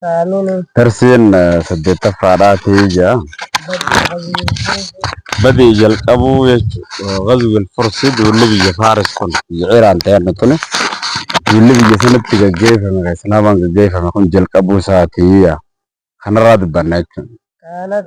Aamiin. Darsiin saddeettaffaadhaa ta'ee jira. Badii jalqabuu jechuudha. Gazwil Fursi duulli biyya Faaris kun biyya Iraan ta'e adda tuni. Duulli biyya sanatti gaggeeffame kan Islaamaan gaggeeffame kun jalqabuu isaati. Kanarraa dubbanna jechuudha. Kaanat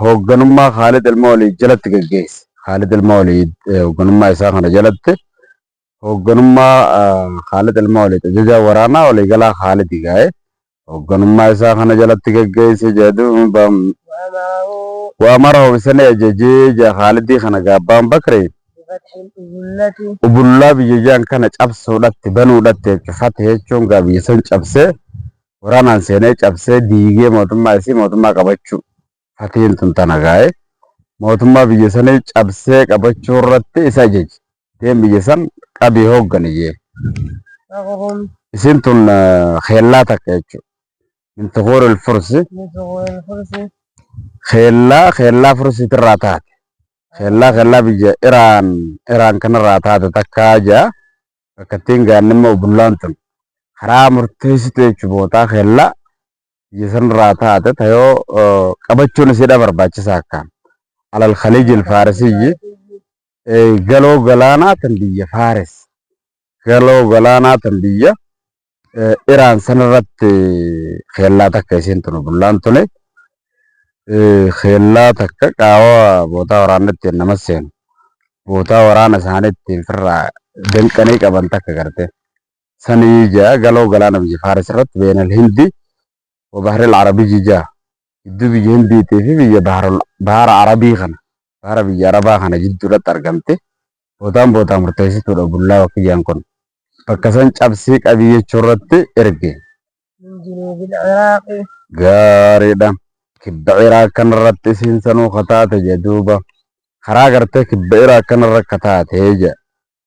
Hoogganummaa Khaalid Ilma Waliid jalatti gaggeesse. Khaalid Ilma Waliid hoogganummaa isaa kana jalatti hoogganummaa Khaalid Ilma Waliid ajajaa waraanaa waliigalaa Khaalid gaa'e hoogganummaa isaa kana jalatti gaggeesse jedhu waamara hobisanii ajajee jaa Khaalidii kana gaabbaan bakri ubullaa biyya jaan kana cabsuudhatti banuudhatti fatte jechuun gaa biyya san cabsee Waraanaan seenee cabsee diigee mootummaa isii mootummaa qabachuu fatiin tun tana gaa'e mootummaa biyya sanii cabsee qabachuu irratti isa ajaje deem biyya san qabii hooggani jee isiin tun keellaa takka jechuu min tuquuril fursi keellaa keellaa fursiitirraa taate keellaa keellaa biyya iraan iraan kanarraa taate takkaa jaa rakkattiin gaannimma ubullaan tun karaa murteessitu jechu bootaa keella biyya sanirraa taate tayoo qabachuun isiidha barbaachisaa akkaan alal khaliijil faarisiyyi galoo galaanaa tan biyya faaris galoo galaanaa tan biyya Iraan sanarratti keellaa takka isiin tunu bullaan tule keellaa takka qaawaa bootaa waraana ittiin nama seenu bootaa waraana isaanii ittiin firraa danqanii qaban takka garte sanii jaa galoo galaana biyya faaris irratti beenal hindi wabahril arabiyyi jaa jidduu biyya Hindiitii fi biyya Bahara Arabii kana Bahara biyya Arabaa kana jidduudhatti argamte bootaan bootaa murteessituudha bullaa wakiyyaan kun bakka san cabsii qabii jechuurratti erge. Gaariidha. Kibba Iraaq kanarratti isiin sanuu kataate jedhuuba karaa gartee kibba Iraaq kanarra kataate jedha.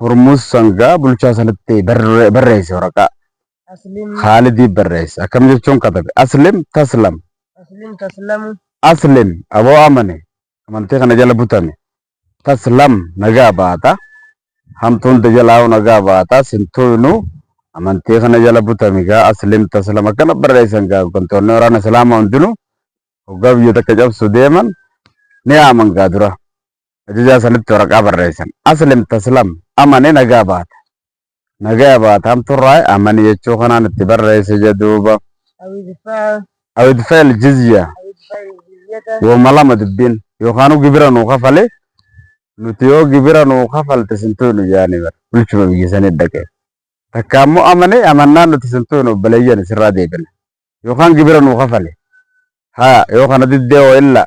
Hurmuz Sangaa bulchaa sanatti barre- barreesse waraqaa. Aslim Khaalidiif barreesse. Akkam jechuun katabe. Aslim taslam. Aslim taslamu Aslim aboo amane. Amantii kana jala butame. Taslam nagaa baata. Hamtuu hunda jalaa'u nagaa baata. Sintuunuu amantii kana jala butame gaa aslim taslam akkana barreessan gaa hooggantoonni waraana islaamaa hundinuu hoggaa biyya takka cabsu deeman ni yaaman gaa dura. ajajaa sanitti waraqaa barreessan. Aslim taslam amani nagaa baata. Nagaya baata hamturraa amani jechuu kanaan itti barreesse jedhuuba. Awidfeel jizya woma lama dubbiin yookaanuu gibira nuu kafale nuti yoo gibira nuu kafalte sintuu nu jaani bara bulchuma biyya sanii dhaqee. Takka ammoo amane amannaan nuti sintuu nu obboleeyyan sirraa deebina. Yookaan gibira nuu kafale. Haa yoo kana diddee wayilla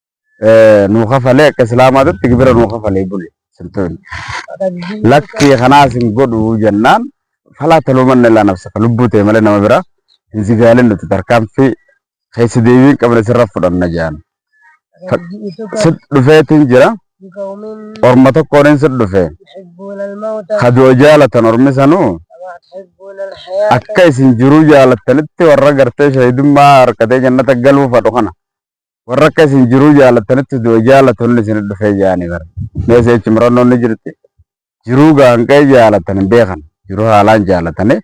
nuu kafalee akka islaamaatitti gibira nuu kafalee bule sirtoonni. Lakkii kanaas hin godhu jennaan falaa taluumanna ilaa nafsaka lubbuu ta'e malee nama biraa hin sigaalin nuti tarkaanfii keessa deebiin qabne sirra fudhanna jedhan. Sit dhufeetiin jira orma tokkoon sit dhufe kadoo jaalatan ormi sanuu akka isin jiruu jaalattanitti warra gartee shahidummaa harkatee jannata galuu fadhu kana warra akka isin jiruu jaalatanitti du'a jaalatoonni isin dhufee jaani bara mee seechi murannoon ni jirti jiruu gaanqee jaalatan hin beekan jiruu haalaan jaalatanii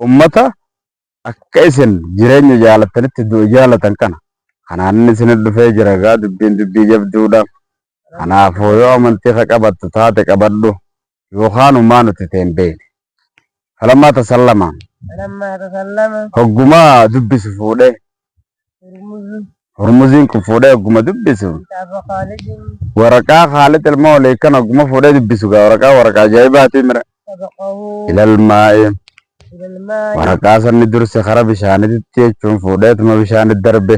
ummata akka isin jireenya jaalatanitti du'a jaalatan kana kanaan inni isin dhufee jira gaa dubbiin dubbii jabduudha Kanaafuu yoo amantii ka qabattu taate qabadhu, yookaan humaa nuti ta'e hin beekne. Falammaa tasallama. Falammaa tasallama. Hogguma dubbisu fuudhe. Hurmuzu. Hurmuziin kun fuudhee hogguma dubbisu. Kitaaba Khaalidin. Waraqaa Khaalid ilma walii kan hogguma fuudhee dubbisu gaa waraqaa waraqaa ajaa'ibaati mira. Sabaqahu. Ilalmaa'ee. Ilalmaa'ee. Waraqaa sanni durse kara bishaanititti jechuun fuudheetuma bishaanitti darbe.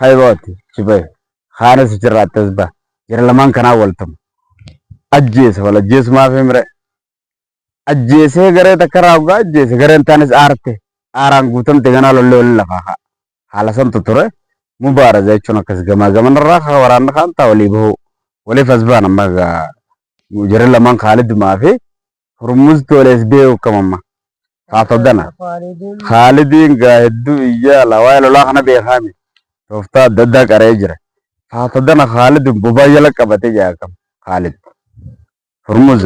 Kayrooti shibee kaanis achirraa attas ba'a. Jara lamaan kanaa wal tumu. Ajjeesa wal ajjeesu maaf himre. Ajjeesee garee takka irraa hoggaa ajjeese gareen taanis aarte. Aaraan guutamte ganaa lollee waliin lafaa ka'a. Haala santu ture. Mubaaraza jechuun akkas gamaa gaman irraa kaa waraanni kaan taa walii bahuu. Waliif as ba'an amma egaa jarri lamaan Kaalid Umaa fi Hurmuz toolees beeku kamamma. Haasofdana. Khaalidiin gaa hedduu iyyaa ala waa'ee lolaa kana beekaa miti. Tooftaa adda addaa qara'ee jira. Haasofdana Khaalidiin bobaa jala qabate jaa kam Khaalid. Hurmuz.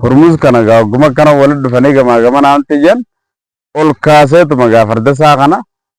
Hurmuz kana gaa hogguma akkana walitti dhufanii gamaa gamana amti jan ol kaaseetuma gaa farda isaa kana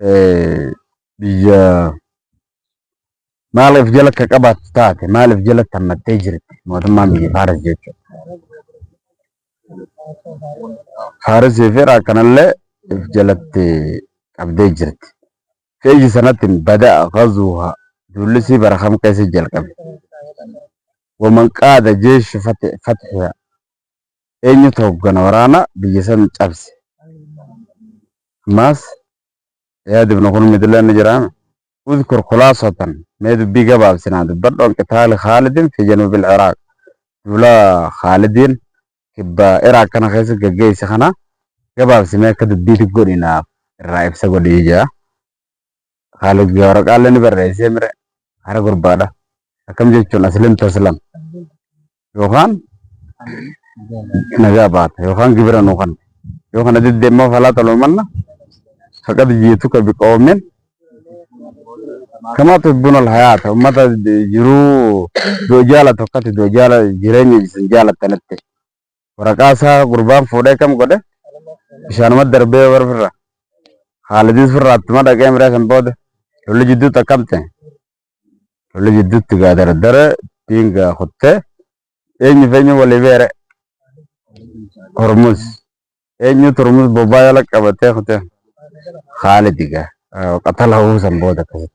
eh, biyya maaliif jala akka qabaattu taate maaliif jala tammattee jirti mootummaan biyya Faaris jechuudha. Faarisii fi Iraaq kanallee if jalatti qabdee jirti. Feeji sanatti bada'a ghazuuha duullisii bara kam keessa jalqabe. Waman qaada jeeshi fatiha Eenyutu hoggana waraana biyya san cabse? Ammaas Iyaad ibn Kulmid illee ni jira. Udkur khulaasatan mee dubbii gabaabsi naa dubbadhu an qitaali Khaalidin fi januubil Iraaq. Duula Khaalidiin kibba Iraaq kana keessa gaggeesse kana gabaabsi mee akka dubbiitti godhi naaf irraa ibsa godhi jedha. haala guyyaa waraqaalee ni barreessee mire hara gurbaadha. Akkam jechuun aslim taslam yookaan nagaa baata yookaan gibira nuu kan yoo kana diddee immoo falaa toloomanna faqad jiituka biqoomin kamaa tubbuna alhayaata ummata jiruu du'a jaalatu akkati du'a jaala jireenya isin jaalattanitti waraqaa isaa gurbaan fuudhee kam godhe bishaanuma darbee warra firra haalidis firraa attuma dhaqee miree san booda lolli jidduutti akkam ta'e lolli jidduutti gaa dardara ittiin gaa kuttee eenyu fi eenyu walii beere hormuz eenyu turmus bobbaa jala qabatee kutee haalidi gaa qatala huu san booda akkasitti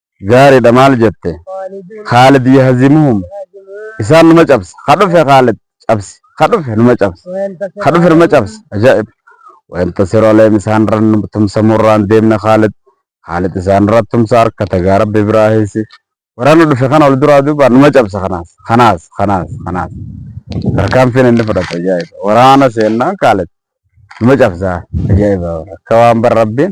Gaaridha maal jette? Khaalid yahzimuhum Isaan numa cabsa. Ka dhufe Khaalid cabsi. Ka dhufe numa cabsa. Ka dhufe numa cabsa. Ajaa'ib! Wayantasiru alayhim Isaan irra nu tumsa murraan deemna Khaalid. Khaalid isaan irra tumsa harkata gaa Rabbi biraa heesi. Waraana dhufe kana ol duraa duuba numa cabsa kanaas. Kanaas. Kanaas. Kanaas. Tarkaanfiin inni fudhate ajaa'iba. Waraana seennaan Khaalid numa cabsa. Ajaa'iba. Akka waan bar Rabbiin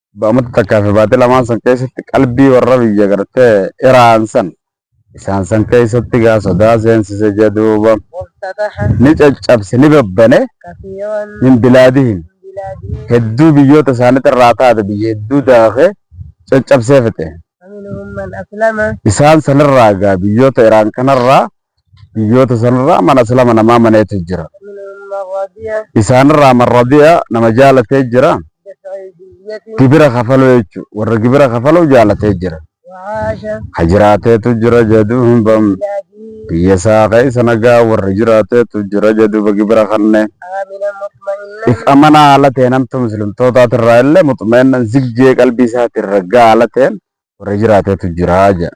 Ba'amata takkaa fi baatii lamaan san keessatti qalbii warra biyya gartee iraan san isaan san keessatti gaa sodaa seensise jee duuba ni caccabse ni babbane min bilaadihim hedduu biyyoota isaanitti irraa taate biyya hedduu daake caccabsee fixe isaan sanirraa gaa biyyoota iraan kanarraa Biyyoota sanirraa man aslama namaa maneetu jira. Isaanirraa man radiya nama jaalatee jira. Gibira kafaluu jechu warra gibira kafaluu jaalatee jira. Ka jiraateetu jira jaduuba biyya isaa keessa nagaa warra jiraateetu jira jaduuba gibira kanne. If amanaa haala ta'een hamtuu muslimtootaatirraa illee muxumeennan ziggee qalbii isaatirra gaala ta'een warra jiraateetu jira jedha.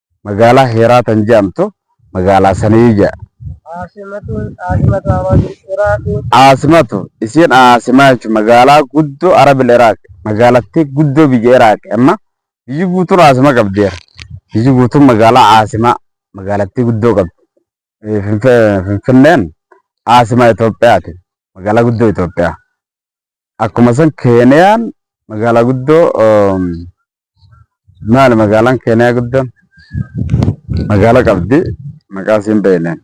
magaalaa Heeraa tan je'amtu magaalaa sanii je'a. Caasimatun, Caasimatu Arabil Iraaqi. Caasimatu, isiin Caasimaa jechuun magaalaa guddoo Arabil Iraaqi, magaalattii guddoo biyya Iraaqi. Amma biyyi guutuun Caasima qabdi. Biyyi guutuun magaalaa Caasimaa, magaalattii guddoo qabdi. Eh, Finfe- Finfinneen Caasimaa Itoophiyaati, magaalaa guddoo Itoophiyaa. Akkuma san Keeniyaan magaalaa guddoo um, Maali magaalaan Keeniyaa guddoon magaala qabdi maqaa isiin beekneen.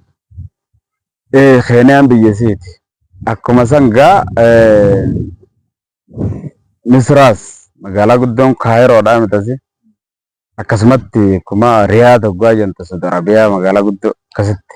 Ee Keeniyaan biyya isiiti. Akkuma san gaa ee, Misiraas magaalaa guddoon Kaayiroodhaa mitasi. Akkasumatti akkuma Riyaad hoggaa jentu Saudi Arabiyaa magaalaa guddoo akkasitti.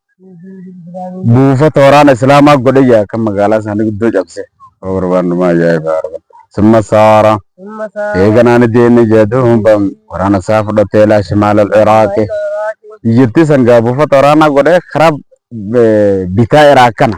buufata waraana Islaamaa godhe jira kan magaalaa isaanii guddoo cabse. Yoo barbaannumaa ajaa'ibaa argan. Summa saara. Eeganaan deemee jedhu waraana isaa fudhatee ilaa shimaala Iraaqi. Biyyattii sangaa buufata waraanaa godhee karaa bitaa Iraaq kana.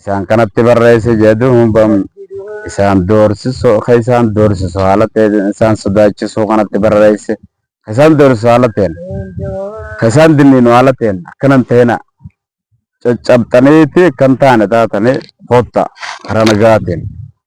isaan kanatti barreesse jee duuba isaan doorsisu ka isaan doorsisu haala ta'e isaan sodaachisuu kanatti barreesse ka isaan doorsisu haala ta'een ka isaan dinniinu haala ta'een akkanan ta'ina caccabxaniiti kan taane taatanii kotta karaa nagaatiin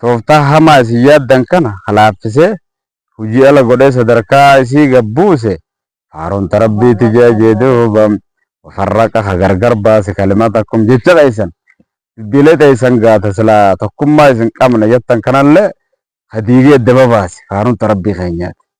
tooftaa hamaa isin yaaddan kana ka laaffisee, hujii ala godhee sadarka'aa isii gad buuse, faaruun ta Rabbiiti je'a jee duuba, wa farraqa ka gargar baase kalimatakum jecha keessan, dubbiilee teessan gaa ta silaa tokkummaa isin qabna jattan kanallee ka diigee edda babaase, faaruun ta Rabbii keenyaati.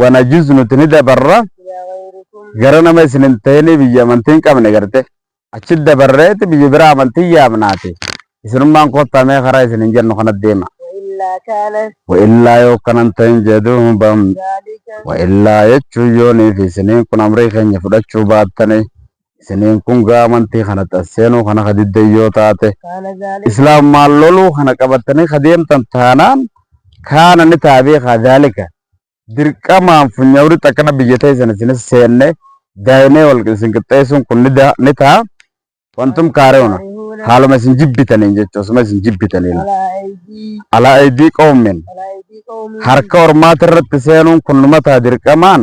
wanajuz nuti ni dabarra gara nama isin hin ta'inii biyya amantii hin qabne garte achi dabarreeti biyya bira amantii yaamnaati isinummaan kottaa mee karaa isin hin jennu kana deema wa'illaa yoo kanan ta'in jedhu bam wa'illaa jechuun yoonii fi isiniin kun amrii keenya fudhachuu baattanii isiniin kun gaa amantii kanatti as seenuu kana ka diddan yoo taate islaamummaan loluu kana qabattanii ka deemtan taanaan kaana ni ta'a beekaa daalika dirqamaan funyawritti akkana biyya teessan isinis seenne daa'inee wal isin qixxeessuun kun ni da- ni ta'a wantum kaari'una haaluma isin jibbitaniin jechuun osuma isin jibbitaniin alaa aydii qoomin harka ormaati irratti seenuun kun numa ta'a dirqamaan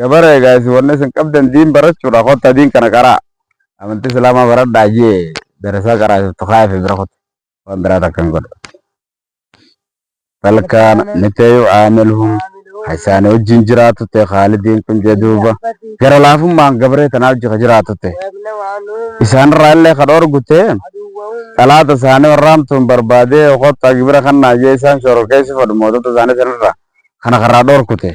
gabara egaa isin wanna isin qabdan diin barachuudha kotta diin kana qaraa amantii islaamaa baradhaa jee darasaa qaraa isin tukaa fi bira kotta waan biraa takka hin godhu talkaan miteeyu aamilhum isaanii wajjin jiraatu ta'e haalidiin kun jee duuba gara laafummaan gabaree tanaa wajji ka jiraatu ta'e isaanirraa illee ka dhoorgu ta'e xalaata isaanii warraamtuun barbaadee kottaa gibira kannaa jee isaan shororkeessi fadhu mootota isaanii sanirraa kana karraa dhoorku ta'e